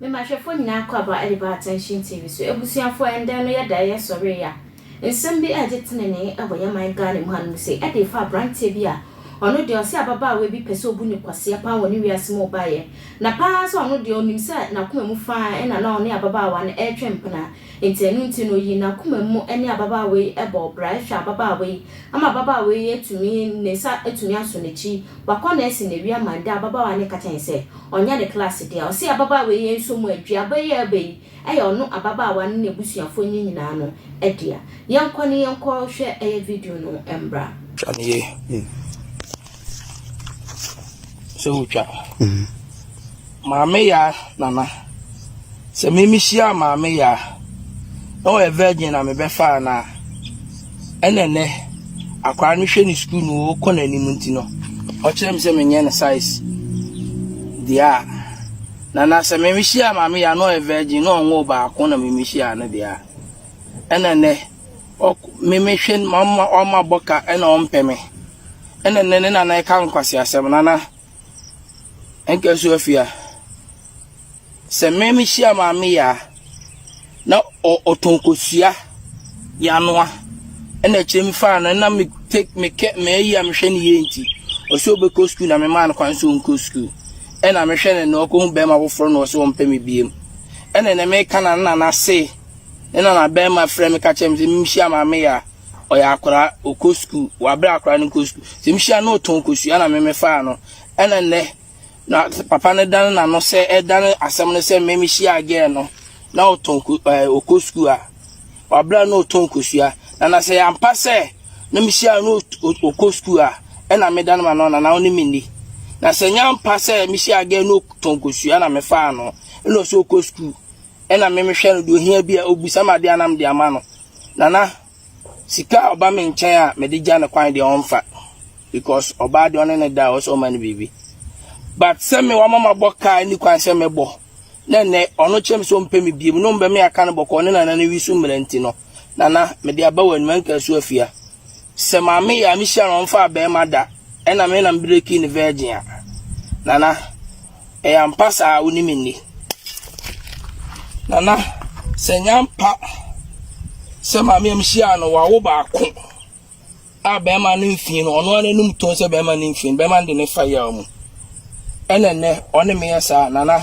Mema hwɛfoɔ nyinaa kɔ aba de ba Attention TV so. Abusuafoɔ ɛndɛ no yɛda yɛ sɔre ya. Nsɛm bi ɛɛgye tenenee ɛwɔ yɛn man Ghana mu hanom sei ɛde fa abranteɛ bi a ɔno deɛ ɔse ababaawa bi pɛsɛ ɔbu no kwasea paa wɔ ne wiase mu ɔbaeɛ na paa sɛ ɔno deɛ ɔnim sɛ n'akoma mu faa ɛna na ɔne ababaawa no ɛretwɛn mpena nti ɛno nti no ɔyii n'akoma mu ne ababaawa yi ɛbɔɔ bra ɛhwɛ ababaawa yi ama ababaawa yi atumi ne nsa atumi aso n'akyi wakɔ na asi n'awi ama ɛndɛ ababaawa no ka kyɛn sɛ ɔnyɛ ne class deɛ ɔse ababaawa yi nso mu aduaba yi a ɛreba yi Ɛyɛ ɔno ababaawa no n'abusuafoɔ no nyinaa no dea. Yɛnkɔ ne yɛnkɔ hwɛ ɛyɛ video no mbra. Twa no yie sɛ wo twa maame yaa nana sɛ me me hyia maame yaa na ɔyɛ virgin na me bɛfaa no a ɛna ɛnɛ akwaa no hwɛ ne sukuu no ɔkɔ n'anim nti no ɔkyerɛ me sɛ menyɛ no size deɛ a Na na sɛ memehyia Maame Yah a na ɔyɛ virgin, na ɔnwoo baako na memehyia no deɛ a, ɛna nnɛ ɔk memehwɛ no mamma ɔmmabɔ ka ɛna ɔmpɛ me. Ɛna nnɛ ne nana ɛka nkwaseasɛm, nana ɛnka nsu afia. Sɛ memehyia Maame Yah a. na ɔ ɔtɔn kosua de anoa. Ɛna akyire me faa no na me te me kɛ mɛyi a mehwɛ ne yie nti ɔsɛ ɔbɛkɔ sukuu na memaa no kwan sɛ ɔnkɔ sukuu. Ɛna mehwɛ no na ɔkɔhu bɛrima foforɔ na ɔsɛ ɔmpɛ me biam. Ɛna na meka na na n'ase ne na na bɛrima frɛ me ka kyerɛ me sɛ menhyia maame yɛ a ɔyɛ akwadaa ɔkɔ sukuu wabrɛ akwadaa no nkɔ sukuu. Sɛ mehyia no ɔtɔn kosua na me mefaa no ɛna nnɛ Na papa no dane n'ano sɛ ɛdane asɛm no sɛ mmɛ mehyia gɛɛ no na ɔtɔn ɔkɔ sukuu a wabra na ɔtɔn kosua na na sɛ yɛampa sɛ na mehyia no ɔkɔ sukuu a ɛna medane ma no na na ɔne me ni na sɛ nyampa sɛ mehyia gɛɛ no ɔtɔn kosua na mefaa no ɛna ɔsɛ ɔkɔ sukuu ɛna memehwɛ no deɛ ɔhia bi a ɔbisa ma adeɛ anam de ama no na na Sika a ɔba me nkyɛn a mede gya no kwan deɛ ɔmfa because ɔbaa deɛ ɔne ne da a ɔsɛ ɔma no biribi but sɛ me wama mabɔ kaa ni kwan sɛ mɛbɔ na nnɛ ɔno kyerɛ me sɛ ɔmpɛ me biem na ɔmbɛ me aka no bɔkɔɔ ne nana no wi so mmerɛ nti no nana mede aba w'anim anka so afia sɛ maame yɛ a mehyia no ɔmfa abɛɛma da ɛna me na mbreki ne virgin a nana Ɛyɛ ampa saa wo ne me nni. Nana sɛ nya mpa sɛ maame am hyia no wawo baako a bɛrima no mfin no ɔno ara anum tɔn sɛ bɛrima no mfin bɛrima de ne fa yaw mu ɛna nnɛ ɔne me yɛ saa nana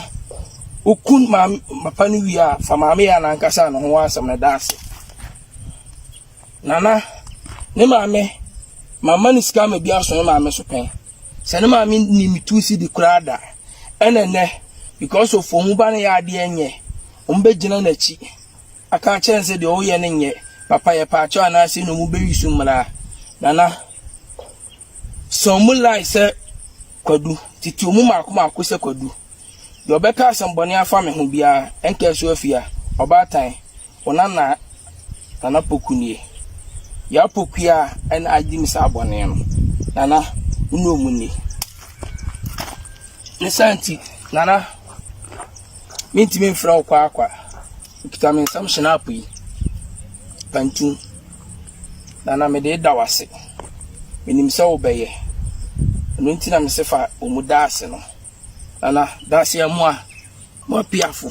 wokun maame papa no wie a fa maame yɛ anankasa ne ho asɛm no da ase nana ne maame mama ne sika ma bi aso ne maame so pɛn Sɛ ne maame nni me two cedi koraa da. Ɛna ɛnɛ because of wɔn ba no yɛ adeɛ nyɛ, wɔn bɛ gyina n'akyi aka akyerɛ no sɛ deɛ ɔyɛ no nyɛ papa yɛ paakyɛw anaasɛ na wɔn bɛ yi so mmara. Nana, sɛ wɔn lie sɛ Kwadu, tete wɔn mako mako sɛ Kwadu. Deɛ ɔbɛka asɛm bɔne afa me ho biara, ɛnka so afia, ɔbaatan. Wo nana Nana Poku nie. Yaa Pokua ɛna agye me saa bɔne no. Nana, wo ne ɔmu nie. Ne saa nti, Nana, mentumi mfrɛ wo kwaakwa. Okita me nsam hyinaapo yi. Pantu. Nana, mede da wo ase. Menim sɛ wobɛyɛ. Ɛno nti na mese fa ɔmu da ase no. Nana, da ase a mua. Mua piafo.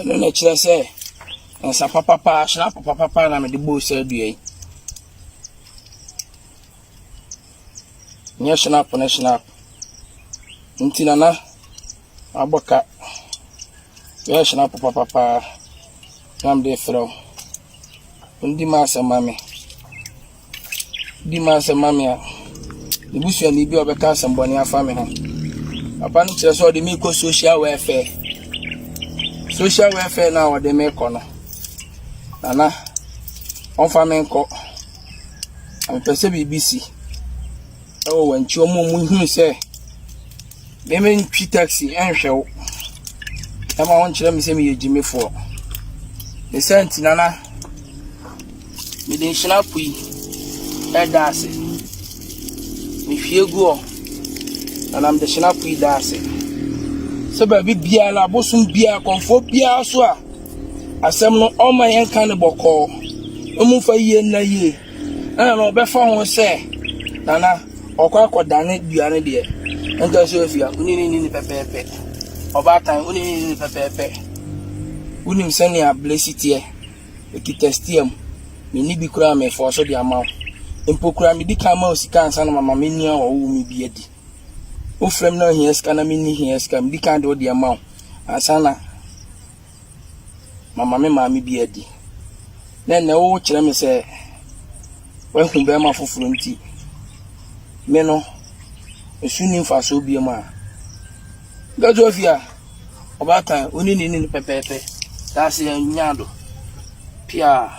ɛno na ɛkyerɛ sɛ nsa papapa ahyena papapa na mede bɔɔ sɛ adua yi nyɛ shenap ne shenap nti nana abɔ ka yɛ shenap papapa Na mede refrɛ wo. Di m'asɛm ma me. Di m'asɛm ma me a, ne busuani bi a ɔbɛka asɛmmɔne afa me ho. Papa no kyerɛ sɛ ɔde me kɔ social welfare. Social welfare no a ɔde me kɔ no, nana, ɔmfa me nkɔ. Mepɛ sɛ biribi si. Ɛwɔ wɔn akyi, wɔn a wɔhunu sɛ Me me ntwi taxi nhwɛ wo ɛma wo nkyerɛ me sɛ meyɛ gyimifoɔ ne sɛ ntina na mede nhyena po yi ɛda ase mehwie gu hɔ na nam de hyena po yi da ase sɛ baabi biara no abosom biara kɔmfoɔ biara so a asɛm no ɔma yɛnka ne bɔkɔɔ ɛmu fa yie nna yie Ɛna no ɔbɛfa ho sɛ nana ɔkɔ akɔdane dua no deɛ ɛntɛ sɛ ofia wone ne nini pɛpɛɛpɛ ɔbaatan wone ne nini pɛpɛɛpɛ wonim sɛnea blesi teɛ ɛkita stia mu menni bi koraa mefɔɔ so de ama wo mpo koraa medi kan ma wo sika ansa na mama me nua wɔ wo me bi adi wofrɛ m na ohia sika na menni hia sika medi kan de wo deɛ ma wo ansa na Mama me maame bi adi. Na ɛnnɛ wokyerɛ me sɛ woahu bɛrima foforɔ nti, me no, me so nni mfasoɔ bio a. Gaduwa fi a, ɔbaatan, wo ne no nni no pɛpɛɛpɛ. Daaseɛ nnya do, piaa.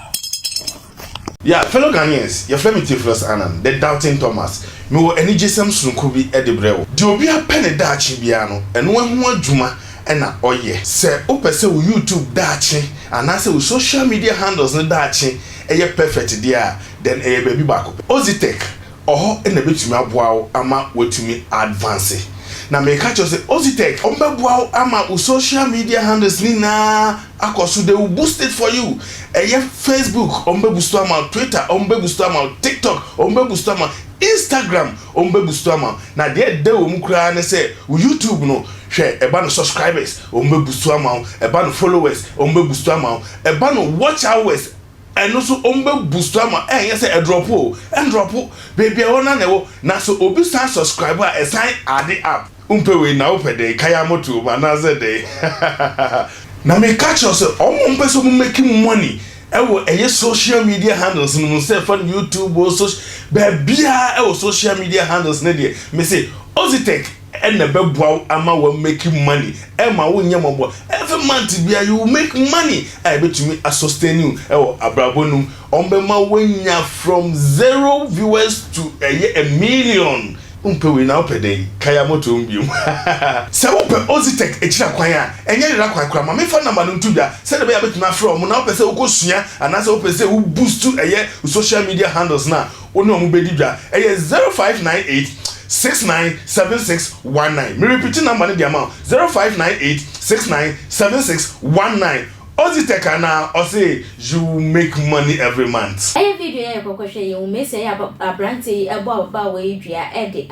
Yeah, fellow Ghanaians, yɛfrɛ me Theophilus Annan, the Doubting Thomas. Mewɔ anigyesɛm sononko bi de brɛ wo. Deɛ obiara pɛ ne daakye biara no, ɛno ho adwuma na ɔyɛ. Sɛ wopɛ sɛ wo YouTube daakye anaasɛ wo social media handles no daakye yɛ perfect deɛ a, then ɛyɛ baabi baako pɛ. Ozitech wɔ hɔ na ɛbɛtumi aboa wo ama woatumi a advance. Na meka kyerɛ wo sɛ Ozitech, wɔbɛboa wo ama wo social media handles no nyinaa, akɔ so they will boost it for you ɛyɛ Facebook wɔn bɛ boost ama wo Twitter wɔn bɛ boost ama wo TikTok wɔn bɛ boost ama Instagram wɔn bɛ boost ama wo na deɛ ɛda wɔn mu koraa ne sɛ wo YouTube no hwɛ ɛba no subscribers wɔn bɛ boost ama wo ɛba no followers wɔn bɛ boost ama wo ɛba no watch hours ɛno so wɔn bɛ boost ama wo ɛnyɛ sɛ ɛdrɔpo o ɛndrɔpo beebi a ɛwɔ na na ɛwɔ na sɛ obi san subscribe a ɛsan ade up. Wompɛ wei na wopɛ dɛn? Kae amoto wom anaasɛ dɛn? Hahahaha. Na meka kyerɛ wo sɛ wɔn a wɔpɛ sɛ wɔn make money wɔ ɛyɛ social media handles no mu sɛ fa no YouTube o soc baabiara wɔ social media handles no deɛ mese Ozytec na ɛbɛboa wo ama wa make money ɛma wo nyɛ mɔbɔ every month biara you will make money a ɛbɛtumi a sustain you wɔ abrabɔ no mu wɔn bɛma wo anya from zero viewers to ɛyɛ a million Wompɛ wei na wopɛ dɛn? Kae a moto hom bio. Sɛ wopɛ Ozytec ekyir akwan a, nnyɛ yer akwan koraa, ma memfa number no nto dwa sɛdeɛ ɔbɛyɛ a mɛtumi afrɛ hom, na wopɛ sɛ wokosua anaasɛ wopɛ sɛ wo boost ɛyɛ wo social media handles no a, wo ne hom bɛdi dwa. Ɛyɛ zero five nine eight six nine seven six one nine. Merepiti number no de ama wo, zero five nine eight six nine seven six one nine. Odzi tɛk anaa ɔse you make money every month. Ɛyɛ video yɛ kɔkɔ hwɛ yɛn womɛsia yɛ abranteɛ yi ɛbɔ ababaawa yi dua ɛde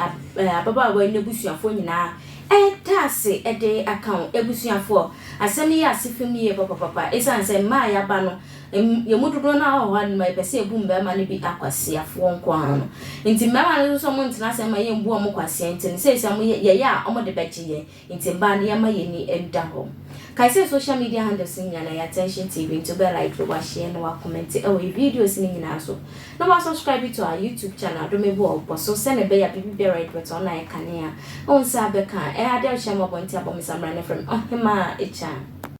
ababaawa yi nabusuafoɔ nyinaa ɛda ase ɛde aka wo abusuafoɔ asɛm yi yɛ ase fam yie papapapa ɛsiane sɛ mmaa yaba no yɛn mu dodoɔ no ara wɔ hɔ a noma yɛpɛ sɛ yɛbu mmarima no bi akwasiafoɔ nko ara no nti mmarima no nso wɔn ntena ase mma yɛn bu wɔn kwasea nti no seesei wɔn yɛyɛ a wɔn de bɛgye yɛn Nti mbaa no yɛma yɛni nda hɔ. Kae sɛ social media handles no nyina na ɛyɛ Attention TV nti wobɛ like, wa share na wa comment wɔ yɛ videos no nyinaa so. Na wa subscribe to our YouTube channel Adome Boɔ Ɔbɔ so sɛnɛ ɛbɛyɛ a biribi biara a yɛde bɛto hɔ no ayɛ kanea a wo nsa bɛka a. Ɛyɛ adeɛ a wohyɛ mmɔbɔ nti abɔ me samina na frɛ me Ɔhemaa Ekyah.